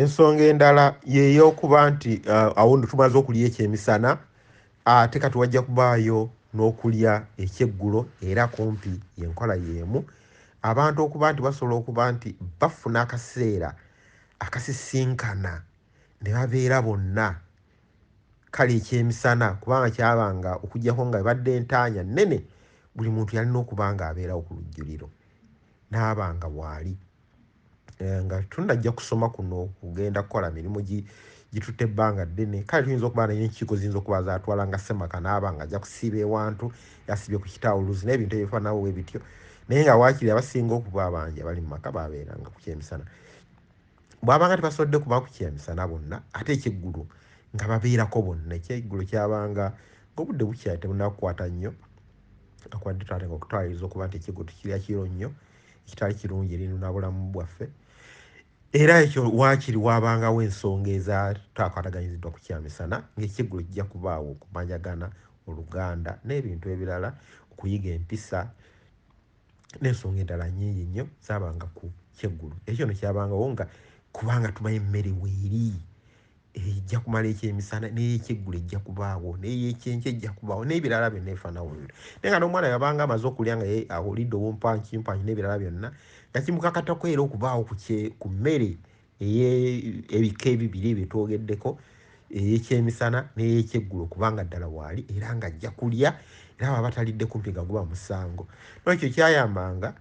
ensonga endala yeyokuba nti uh, awo no tumaze okulya ekyemisana ate kati wajja kubaayo n'okulya ekyeggulo era kumpi yenkola yeemu abantu okuba nti basobola okuba nti bafuna akaseera akasisinkana ne babeera bonna kale ekyemisana kubanga kyabanga okujjako nga ebadde entaanya nnene buli muntu yalina okuba nga abeerawo ku lujjuliro n'abanga waali eh, nga tunajja kusoma kuno kugenda kukola mirimu gitutte ebbanga ddene kale tuyinza okuba naye enkiiko ziyinza okuba zatwala nga semaka naaba nga ajja kusiiba ewantu yasiibye ku kitawuluzi n'ebintu ebifanawo we bityo naye nga waakiri abasinga okuba abangi abali mu maka babeeranga ku kyemisana bwabanga tebasobodde kuba ku kyemisana bonna ate ekyeggulu nga babeerako bonna ekyeggulu kyabanga ng'obudde bukyali tebunakukwata nnyo akwadde taata nga okutwaliriza okuba nti ekyeggulu tekirya kiro nnyo ekitali kirungi eri nabulamu bwaffe era ekyo waakiri waabangawo ensonga ezatakwataganyiziddwa ku kyamisana ng'ekiggulo kijja kubaawo okumanyagana oluganda n'ebintu ebirala okuyiga empisa n'ensonga endala nyingi nnyo zaabanga ku kyeggulo ekyo no kyabangawo nga kubanga tumanyi emmere weeri ejja kumala ekyemisana neyekyeggula ejja kubaawo neyekyenkya ejja kubaawo nebirala byonna ebifaanana bwe bityo naye nga n'omwana yabanga amaze okulya nga ye awulidde obumpankimpany n'ebirala byonna nga kimukakatako era okubaawo ku mmere ey'ebika ebibiri ebyo twogeddeko eyekyemisana neyekyeggulo kubanga ddala waali era nga ajja kulya era baba batalidde kumpi nga guba musango nolwekyo kyayambanga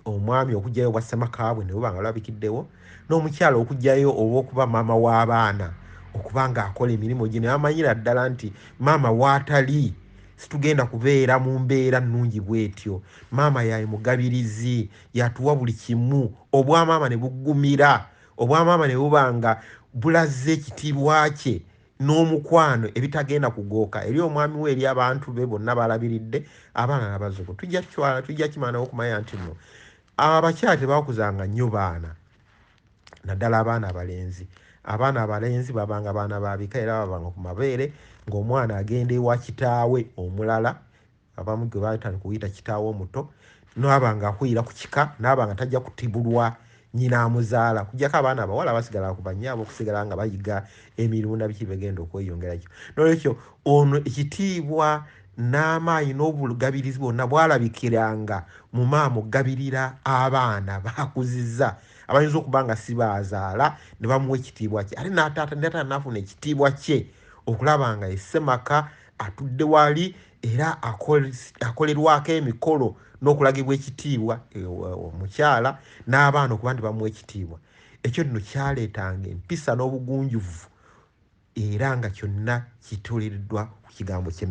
omwami okugyayo obwa ssemaka bwe ne buba nga lwabikiddewo n'omukyala okugyayo olw'okuba maama w'abaana okuba ng'akola emirimu gye ne bamanyira ddala nti maama waatali situgenda kubeera mu mbeera nnungi bwetyo maama yaye mugabirizi yatuwa buli kimu obwamaama ne buggumira obwamaama ne buba nga bulaze ekitiibwa kye n'omukwano ebitagenda kugooka eri omwami we eri abantu be bonna balabiridde abaana nabazuku tujja kitwala tujja kimanawo okumanya nti no abakyala tebakuzanga nnyo baana naddala abaana abalenzi abaana abalenzi babanga baana babika era babanga ku mabeere ng'omwana agenda ewa kitaawe omulala abamu gwe baatandika okuyita kitaawe omuto naaba nga akulira ku kika naaba nga tajja kutibulwa nyina amuzaala kujjako abaana abawala abasigala ku banyaaba okusigala nga bayiga emirimu nabiki begenda okweyongerakyo nolwekyo ono ekitiibwa n'amaanyi n'obulugabirizi bwonna bwalabikiranga mu maama okugabirira abaana bakuziza abayinza okuba nga sibaazaala ne bamuwa ekitiibwa kye ate nataata nataata naafuna ekitiibwa kye okulaba nga esemaka atudde wali era akolerwako emikolo n'okulagibwa ekitiibwa e, omukyala n'abaana okuba nti bamuwa ekitiibwa ekyo nno kyaleetanga empisa n'obugunjuvu era nga kyonna kituliddwa ku kigambo kye